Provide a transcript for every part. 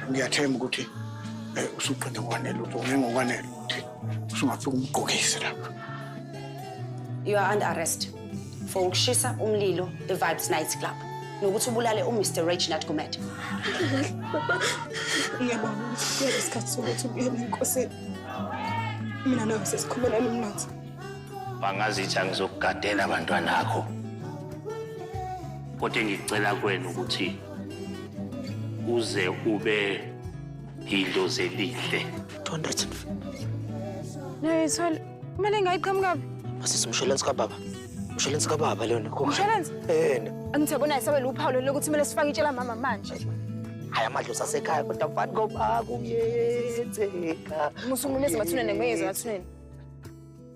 ngiyathemba ukuthi eh, usuqinde ngokwanele ukuthi ungeke ngokwanele ukuthi usungafika umgqokise lapha you are under arrest for ukushisa umlilo e-vibes night club nokuthi ubulale umr reginald gumede ngiyabona ukuthi kuyele isikhathi sokuthi ubuyele enkosini mina nawe sesikhumelana umnotho bangazithi angizokugadela abantwana akho kodwa engicela kwena ukuthi uze ube idlozi elihle don't let it nayo ithole kumele ngayiqhamukaphi masisi umsholensi kababa umsholensi kababa lona umsholensi yena angithi yabona isabela uphawu lelo ukuthi kumele sifake itshela mama manje hayi amadlozi asekhaya kodwa mfani ngoba kuyenzeka musumunezi mathunene ngeke ngeze mathunene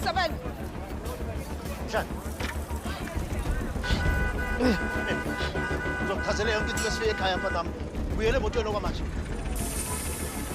Isabel. Can. Uzokuthathele yonke into esifiye ekhaya mfana wami. Buyele emotweni okwamanje.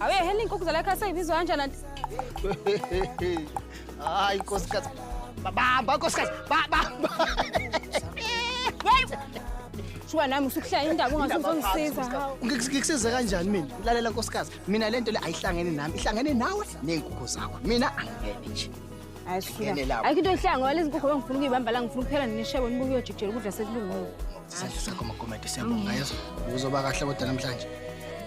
awe heli inkukhu zalakha seyibizwa kanjani anti hayi nkosikazi babamba nkosikazi babamba shuka nami usukuhlaya indaba ungazuzongisiza ngikusiza kanjani mina lalela nkosikazi mina lento le ayihlangene nami ihlangene nawe ney'nkukhu zakho mina angingene nje Hayi sifika. Ngene lapho. Ayikho into ehlanga wale izinkukhu bengifuna ukuyibamba la ngifuna ukuphela nishebo nibuke uyojikijela ukudla sekulungile. isandla sakho makomede siyabonga yezo uzoba kahle kodwa namhlanje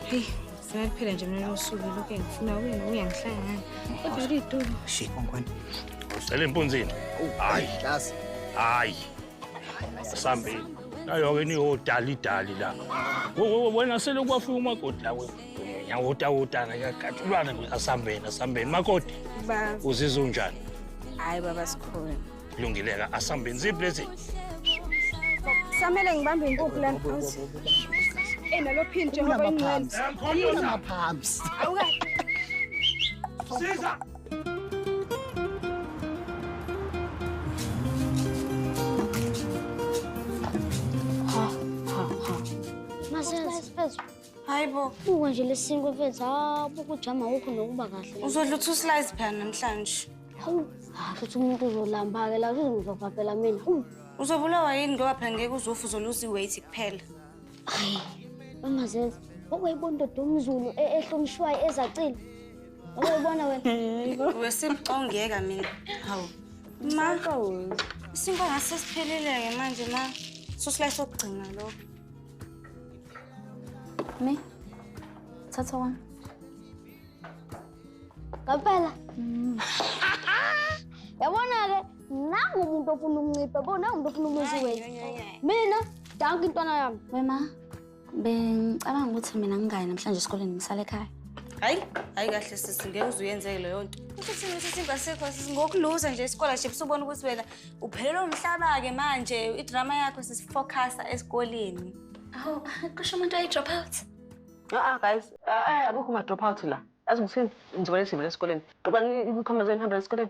Hey, sinaphela nje mina usuku lokho engifuna wena uyangihlangana. Kodwa litulo. shit onkwane Usele empunzini. hayi Hlazi. hayi Sambeni. Nayo-ke niyodalidali la. Wena selokhu wafika umakoti la wena. Yawotawotana yagathulwana nje asambeni asambeni. Makoti. Ba. Uzizwa unjani? Hayi baba sikhona. Lungileka asambeni ziphi lezi? Samele ngibambe inkukhu lana. Eh nalo phin njengoba inqeni. Ngiyona maphambi. Awukahle. Siza. hayi bo uko nje lesinkwe mfethu hawu bokujama wokho nokuba kahle uzodla uthi uslice phela namhlanje hawu hayi uthi umuntu uzolamba-ke la uzongizova phela mina uzobulawa yini ngoba phela ngeke uzofa uzoluza i-weight kuphela hayi mama zenza okuyibona indoda umzulu e-, ehlonishwayo ezacile Uyobona wena. Wesimcongeka mina. Hawu. Ma. Isinkwa ngase siphelile-ke manje ma. Susila sokugcina lokho. Me. Thatha wami. Ngempela. Mm. Yabona-ke nangu umuntu ofuna ukuncipha, bona umuntu ofuna umuzi wethu. Mina, danki intwana yami. Wema. Bengicabanga ukuthi mina ngingayi namhlanje esikoleni ngisale ekhaya. Hayi, hayi kahle sisi ngeke uze uyenzeke leyo nto. Kusho ukuthi mina sisi ngasekho sisi ngokuluza nje isikole nje usubona ukuthi wena uphelelwe umhlaba ke manje idrama yakho sisi focusa esikoleni. Awu, kusho umuntu ayi drop out. Ah guys, ah akukho ma drop out la. Azi ngithini ngizobona isimo lesikoleni. Ngoba ngikhomba zeni hamba lesikoleni.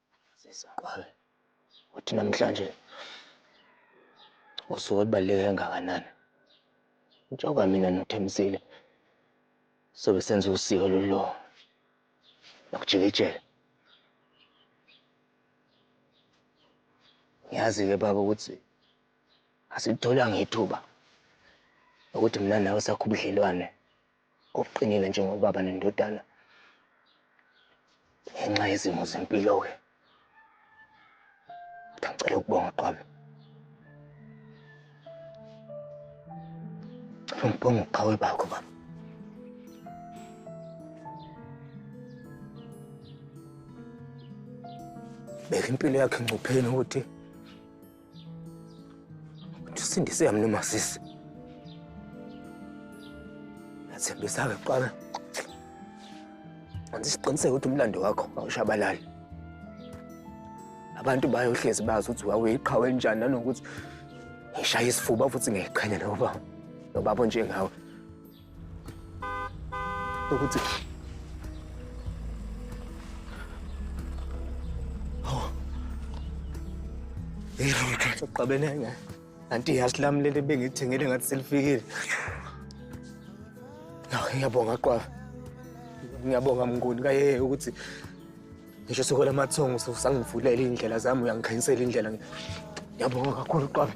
Sesiqale ukuthi namhlanje usuku olubaluleke kangakanani. Njengoba mina noThembisile sobe senza usiko lolu lokujikijela. Ngiyazi-ke baba ukuthi asilitholanga ithuba lokuthi mina nawe sakhe ubudlelwane. Okuqinile njengobaba nendodana ngenxa yezimo zempilo-ke ngicela ukubonga qwami cela ungibonge ubuqhawe bakho baba beka impilo yakhe engcupheni ukuthi Tusindise yami noma sisi. Yathembisa-ke kuqala. Anzi siqiniseke ukuthi umlando wakho awushabalali. Abantu bayohlezi bazi ukuthi wawuyiqhawe njani nanokuthi ngishaya isifuba futhi ngiyiqhenya nobaba. Nobaba onjengawe. Nokuthi Uqabene ngayo. Anti yazi lami leli bengithengele ngathi selifikile. Naw ngiyabonga qwafa. Ngiyabonga mnguni kaye ukuthi ngisho sokola amathongo usangivulela indlela zami uyangikhanyisela indlela. Ngiyabonga kakhulu qwafa.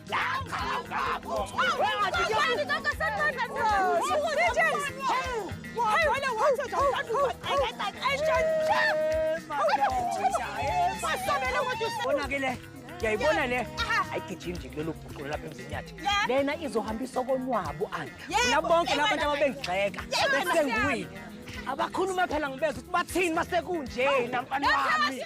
Konakele. Yayibona le. Ayigijimi nje kulelo bhuqulu lapha emzini yathi. Lena izohambisa okonwabo ani. Bona bonke laba bantu ababengigxeka. Bese nguyi. Abakhuluma phela ngibeza ukuthi bathini masekunje namfana wami.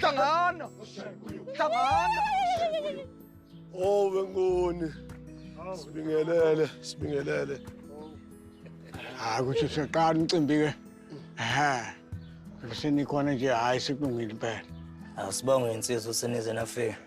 hlangana hlangana owe ngoni sibingelele sibingelele hayi ukuthi siqala umcimbi ke ha kusenikhona nje hayi sikulungile impela asibonge insizwa usenize nafika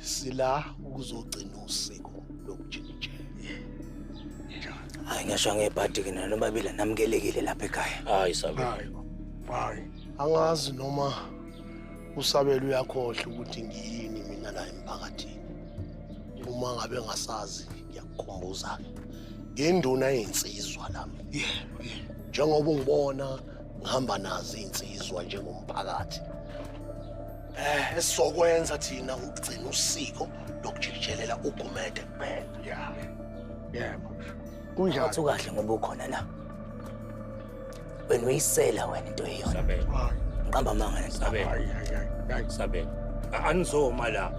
sila ukuzogcina usiko lokujikijela hayi ngisho ngebhadi ke nalo babili namukelekile lapha ekhaya hayi sabe hayi hayi angazi noma usabela uyakhohle ukuthi ngiyini mina la emphakathini uma ngabe ngasazi ngiyakukhumbuza ke ngenduna yensizwa lami yebo yebo njengoba ungibona ngihamba nazo iy'nsizwa njengomphakathi Eh, esizokwenza thina ukugcina usiko lokujikijelela ugumede kuphela. Yeah. Yebo. Kunjani? Wathi ukahle ngoba ukhona la. Wena uyisela wena into eyona. Sabela. Ngiqamba amanga nento. Sabela. Hayi, hayi, hayi, hayi. Sabela. A- Anizoma la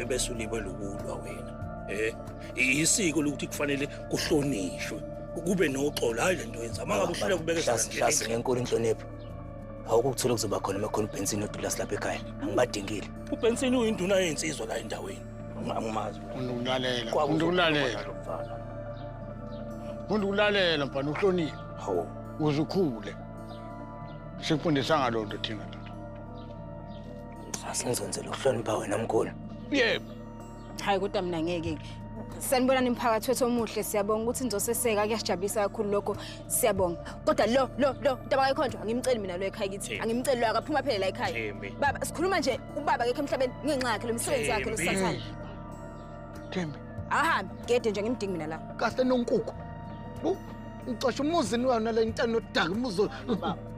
bese ulibe lokulwa wena. Eh, isiko lokuthi kufanele kuhlonishwe. Kube noxolo hayi lento yenza. Mangabe uhluleka kubeka Hlasi hlasi ngenkulu inhlonipho. awukukuthola kuzoba khona uma khona uBenson noDulas lapha ekhaya angibadingile uBenson uyinduna yensizwa la endaweni angimazi muntu kulalela muntu kulalela muntu kulalela mfana uhlonile hawu uzukhule sikufundisa ngaloo nto thina ndoda asenzenzela ukuhlonipha wena mkhulu yebo Hayi kodwa mina ngeke ke. Sanibona nimphakathi wethu omuhle siyabonga ukuthi nizoseseka kuyasijabulisa kakhulu lokho siyabonga. Kodwa lo lo lo ntaba kayikhonjwa angimceli mina lo ekhaya kithi. Thembi. Angimceli lo akaphuma phela la ekhaya. Thembi. Baba sikhuluma nje ubaba kekho emhlabeni ngenxa yakhe lo msebenzi wakhe lo Thembi. sathane. Thembi, Ahambe gede nje ngimdingi mina la. kahle nonkukhu. Bu, Ngixosha umuzi niwona le ntana odaka umuzi.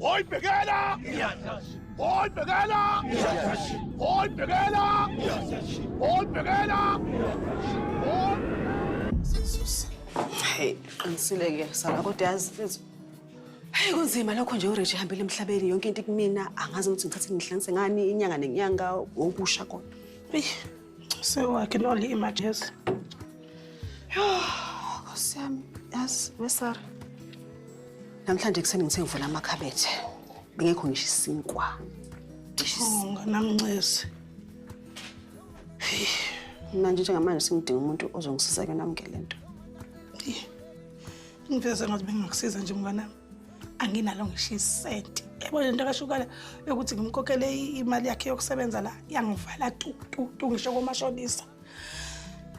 Hoy pegala! Hoy pegala! Hoy pegala! Hoy pegala! Hoy Hey, qinisile ke sala kodwa yazi mfethu. Hey kunzima lokho nje uRich ehambile emhlabeni yonke into kumina angazi ukuthi ngithathe ngihlanganise ngani inyanga nenyanga wokusha kodwa. Hey. So I can only imagine. Yes. Nkosi yami, yazi wesara. Namhlanje kuseni ngithe ngivula amakhabethe. Bengekho ngisho isinkwa. Nganamncezi. Mina nje njengamanje sengidinga umuntu ozongisiza ke namukele lento. Ngiveze ngathi bengakusiza nje mnganami. anginalo ngisho isenti yabo le nto kashukala yokuthi ngimkhokhele imali yakhe yokusebenza la yangivala tu tu tu ngisho komashonisa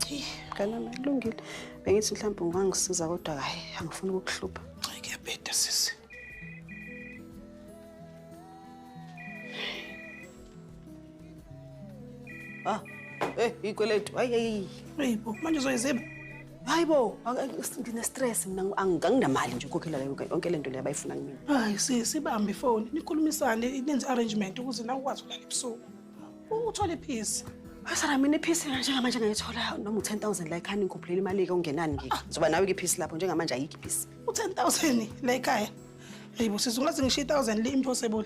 Ngicela kulungile. Bengithi mhlawumbe ungangisiza kodwa hayi angifuni ukukuhlupha. Hayi kuyabheda sisi. Ah, eh ikweletu. Hayi hayi. Hey bo, manje uzoyiziba. hayi bo ngine-stress mina anginamali nje ukhokhela yonke le nto leyo abayifuna kumina hayi sisi ibambe ifoni nikhulumisane nenze arrangement ukuze nawe ukwazi ukulala ebusuku uthole iphisi Asara mina iphisi njengamanje ngayithola noma u-10 000 la ekhaya ningikhuphulele imali-ke ungenani ngike ngizoba nawe-ke iphisi lapho njengamanje ayikho iphisi u-10 000 la ekhaya eyi bo sisi ungaze ngisho i-1000 le impossible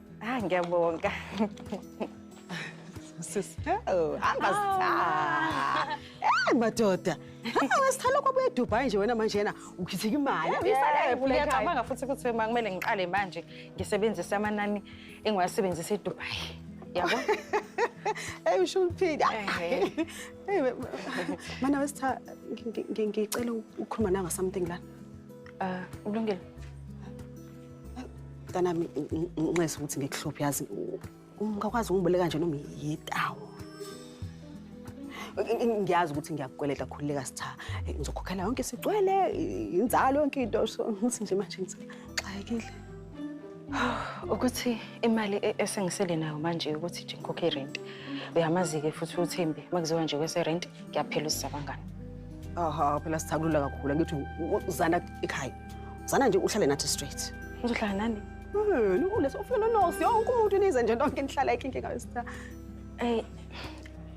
Ah, ngiyabonga. Sis. Oh, hamba sitha. Eh madoda. Ngesithalo kwabuye eDubai nje wena manje yena ukhithika imali. Ngiyacabanga futhi ukuthi uma kumele ngiqale manje ngisebenzise amanani engiwasebenzisa eDubai. Yabo? Hey usho uphila. Hey. Mana wesitha ngicela ukukhuluma nanga something la. Uh, ulungile. mntanami nxese ukuthi ngikuhluphe yazi ungakwazi ungiboleka nje noma yitawo ngiyazi ukuthi ngiyakukweleta khululeka sitha ngizokhokhela yonke sigcwele inzalo yonke into so ngithi nje manje ngixakekile ukuthi imali e-, esengisele nayo manje ukuthi nje ngikhokhe irenti uyamazi-ke futhi uthembi uma kuziwa nje kweserenti ngiyaphela usizabangani aha phela sithakulula kakhulu angithi uzana ekhaya Zana nje uhlale nathi straight. Ngizohlala nani? Yini uleso ufuna nosi yonke umuntu nize nje lonke nihlala ikinke ngayo star. Eh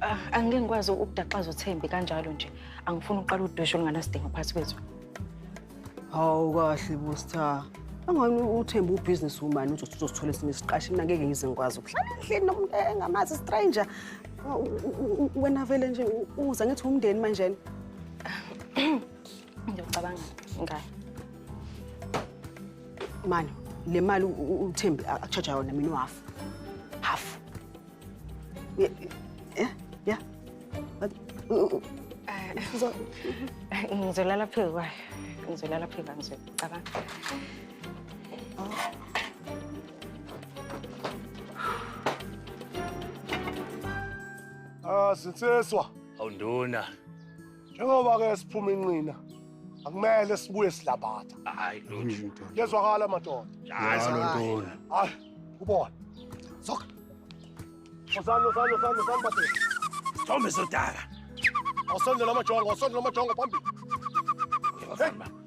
ah, angeke ngikwazi ukudaxaza uThembi kanjalo nje. Angifuni uqala udwesho olunganasidingo phakathi kwethu. Hawu kahle bo star. Angani uThembi ubusiness woman uthi uzosithola esinye isiqashi mina ngeke ngize ngikwazi ukuhlala endlini nomuntu engamazi stranger. Wena vele nje uza ngithi umndeni manje. Ngiyocabanga ngayo. Mani, le mali uThembi akuchaja yona mina uhalf. Half. Yeah, yeah, yeah. Ngizolala phezu kwayo. Ngizolala phezu kwayo ngizocabanga. Ah, sinseswa. Awunduna. njengoba ke siphuma inqina akumele sibuye silabatha hayi lutho yezwakala madoda hayi hayi ubona soka Usani usani usani usani bathi Thombe sodaka Awusondela amajongo awusondela amajongo phambili Hey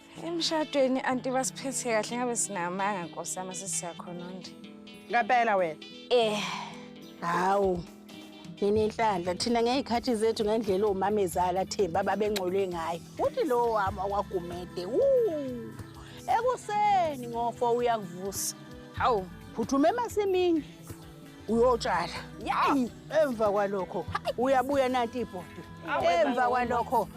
Emshadweni anti basiphethe kahle ngabe sinamanga nkosi yami sesiyakhononda. Ngempela wena. Eh. Hawu. Nini inhlanhla thina ngezikhathi zethu ngendlela omamezala themba ababengcolwe ngayo. Uthi lo wami wakwagumede. Wuu. Ekuseni ngofo uyakuvusa. Hawu, phuthuma emasimini. uyotshala yayi emva kwalokho uyabuya nanti ibhodi emva kwalokho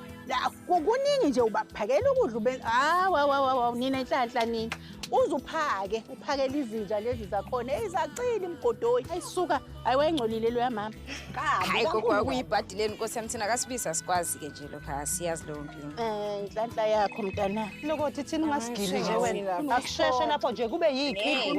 kuningi nje ubaphakela ukudla ube hawawawawa nina inhlanhla nini uze uphake uphakele izinja lezi zakhona eyizaqile imgodoyi ayisuka ayiwayingcolile loya mama hayi kokwa kuyibhadi leni nkosi yami thina kasibizi asikwazi ke nje lokha siyazi leyo mpilo um eh, inhlanhla yakho mntana lokothi thina ungasigili nje wena akusheshe lapho nje kube yikhi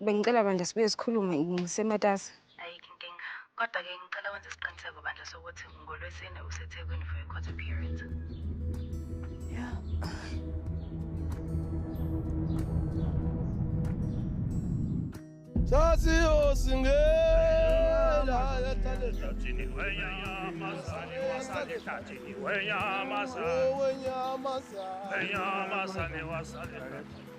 Bengicela bandla sibuye sikhulume ngisematasa. Ayikho inkinga. Kodwa ke ngicela wenze isiqiniseko bandla sokuthi ngolwesine useThekwini for your court appearance. Yeah. Sasiyosingela etatini wenyamazane wasale tatini wenyamazane wenyamazane wasale tatini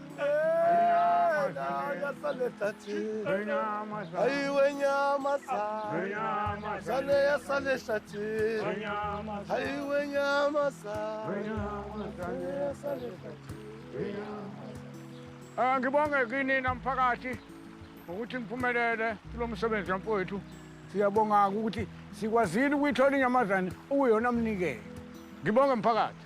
Eh, ngibonge kini namphakathi ngokuthi ngiphumelele kulo msebenzi wamfowethu siyabonga-ke ukuthi sikwazile ukuyithola inyamazane ukuyona mnikelo ngibonge mphakathi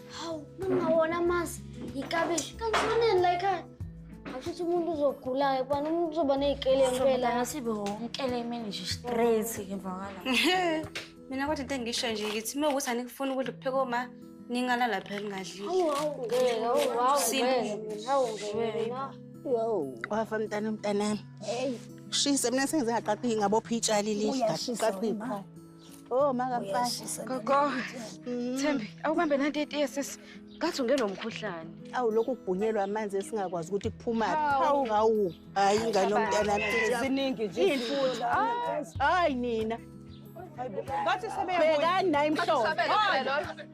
Hawu, ningawona amasi, yikabishi, kanti kufanele la ekhaya. Ashuthi umuntu uzogula-ke kubani umuntu uzoba ney'kele ngempela. Ngasibe wonkele imini nje straight ngivakala. Mina kodwa into engisho nje ngithi uma ukuthi anikufuni ukudla kupheka oma ningalala phela ningadlile. Hawu, hawu, ngeke, hawu, hawu, Sini. ngeke mina, hawu, ngeke mina. Yo, wafa mntana mntanami. Hey, Shise mina sengize ngaqaqi ngabopha itshali lihle. Uyashisa Qaqi wena. Oh makamfashi. Gogo. Mm. Thembi, awubambe nanti itiye sisi. Ngathi ungenwa umkhuhlane. Awu lokhu kubhunyelwa amanzi esingakwazi ukuthi kuphuma. Hawu hawu. Hayi ingane yomntana mfethu. Ziningi nje. Imfuthu. Hayi nina. Ngathi sebeyabuya. Bekani nayi mhlobo.